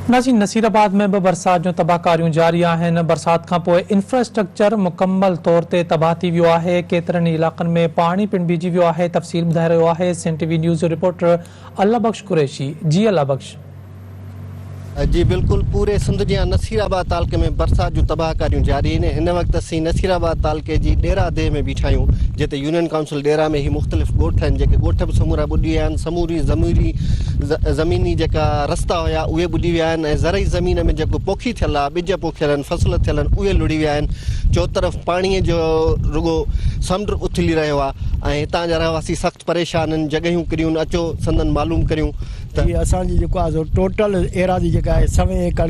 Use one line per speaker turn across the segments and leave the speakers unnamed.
نازين Nasirabad ۾ به برسات جون تباهڪاريون جاري آهن، برسات کانپوء انفراسٽرڪچر مڪمل طور تي تباهه ٿي ويو آهي، ڪيترن ئي علائقن ۾ پاڻي پڻ بيهجي ويو آهي، تفصيل ٻڌائي رهيو آهي سنڌ ٽي وي نيوز جو رپورٽر الله بخش قريشي، جي الله بخش.
جي بلڪل پوري سنڌ جيان نصير آباد تعلقي ۾ برسات جون تباهڪاريون جاري آهن، هن وقت اسين نصير آباد تعلقي جي ڏيرا ديهه ۾ بيٺا آهيون جتي يونين ڪائونسل. ڏيرا ۾ هي مختلف ڳوٺ آهن، جيڪي ڳوٺ به سمورا ٻڏي ويا آهن، سموري زموري زميني جيڪا رستا هيا اهي ٻڏي ويا آهن ۽ زرعي زمين ۾ جيڪو پوکي ٿيل آهي، ٻج پوکيل آهن، فصل ٿيل آهن اهي لڙهي ويا آهن، چوطرف پاڻيء جو رڳو سمنڊ اٿلي رهيو آهي ۽ هتان جا رهواسي سخت پريشان آهن، جڳهيون ڪريون آهن اچو سندن معلوم ڪريون. ته اسان جي جيڪو آهي سو
ٽوٽل ايراضي جيڪا آهي سوين ايڪڙ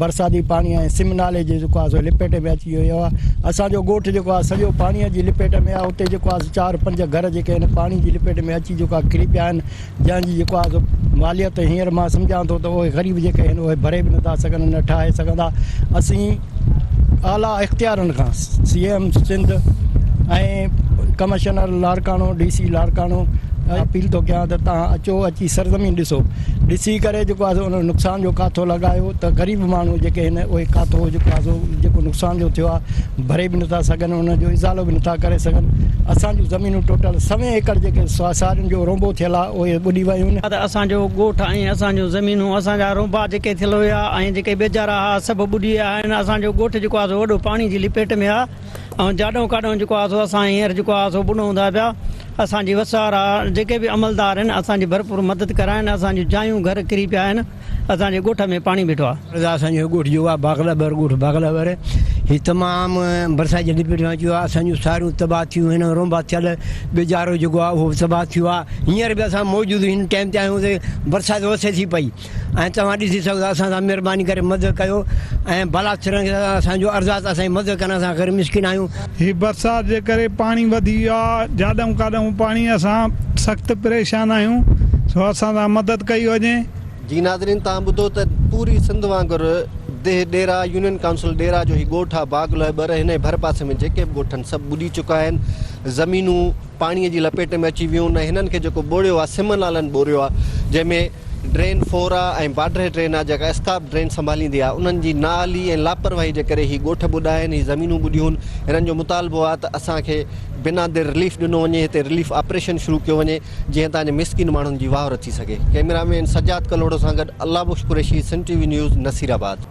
برساتي پاڻي ۽ سم نالي جي جيڪو آهي سو لپيٽي ۾ اچي ويو آهي اسان جو ڳوٺ جيڪو آهي سڄو پاڻي جي لپيٽ ۾ آهي اتي جيڪو آهي چار پنج گهر جيڪي آهن پاڻي جي لپيٽ ۾ اچي جيڪو آهي ڪري پيا آهن جنهن جي جيڪو آهي سو ماليت هينئر مان سمجهان ٿو ته اهي غريب جيڪي آهن اهي ڀري به نٿا سگهن نه ٺاهي سگهندا اسين اعليٰ اختيارن کان C M Sindh ۽ commissioner Larkana D C Larkana appeal ٿو ڪيان ته تان اچو اچي سرزمين ڏسو ڏسي ڪري جيڪو آهي ان نقصان جو ڪاٿو لڳايو ته غريب ماڻهو جيڪي آهن اهي ڪاٿو جيڪو آهي جيڪو نقصان جو ٿيو آهي ڀري به نٿا سگهن ان جو ازالو به نٿا ڪري سگهن اسان جون زمينون ٽوٽل سوين ايڪڙ جيڪي سارين جو رونبو ٿيل آهي اهي ٻڏي ويون آهن اسان جو ڳوٺ ۽
اسان جون زمينون اسان جا رونبا جيڪي ٿيل هيا ۽ جيڪي ٻيجارا آ سڀ ٻڏي ويا آهن اسان جو ڳوٺ جيڪو آهي سو وڏو پاڻي جي لپيٽ ۾ آهي ۽ جاڏو ڪاڏو جيڪو آهي سو اسان هينئر جيڪو آهي سو ٻڏون ٿا پيا اسان جي وسارا جيڪي به عملدار آهن اسان جي ڀرپور مدد ڪرائن اسان جون جايون گهر ڪري پيا آهن اسان جي ڳوٺ ۾ پاڻي بيٺو آهي عرض آ اسان جو ڳوٺ جيڪو آهي
باغلا بر ڳوٺ باغلا بر هي تمام برسات جي لپيٽ ۾ اچيو آهي اسان جون ساريون تباهه ٿيون آهن رونبا ٿيل ٻيجارو جيڪو آهي اهو به تباهه ٿيو آهي هينئر به اسان موجود هن ٽائيم تي آهيون تي برسات وسي ٿي پئي ۽ توهان ڏسي سگهو ٿا اسان سان مھرباني ڪري مدد ڪيو ۽ ڀلا ٿرڻ کي اسان جو ارزاق اسان جي مدد ڪرڻ اسان غير مسڪين آهيون. هي برسات جي
ڪري پاڻي وڌي ويو آ جاڏئون ڪاڏئون پاڻي اسان سخت پريشان آهيون سو اسان سان مدد ڪئي وڃي. جي ناظرين
توهان ٻڌو ته پوري سنڌ وانگر ديھ ڏيرا يونين ڪائونسل ڏيرا جو هي ڳوٺ آ باغ لهٻر هن جي ڀر پاسي ۾ جيڪي به ڳوٺ آهن سڀ ٻڏي چڪا آهن زمينون پاڻي جي لپيٽ ۾ اچي ويون ۽ هنن کي جيڪو ٻوڙيو آ سمن لالن ٻوريو آ جنهن ۾ ڊرين فورا ۽ باڊرهي ڊرين آهي جيڪا اسڪاپ ڊرين سنڀاليندي آهي انهن جي نااهلي ۽ لاپرواهي جي ڪري هي ڳوٺ ٻڏا آهن هي زمينون ٻڏيون هنن جو مطالبو آهي ته اسان کي بنا دير رليف ڏنو وڃي هتي رليف آپريشن شروع ڪيو وڃي جيئن تان جي مسڪين ماڻهن جي واهر ٿي سگهي ڪئميرا مين سجاد ڪلهوڙو سان گڏ Allah Bakhsh Qureshi Sindh T V news Nasirabad.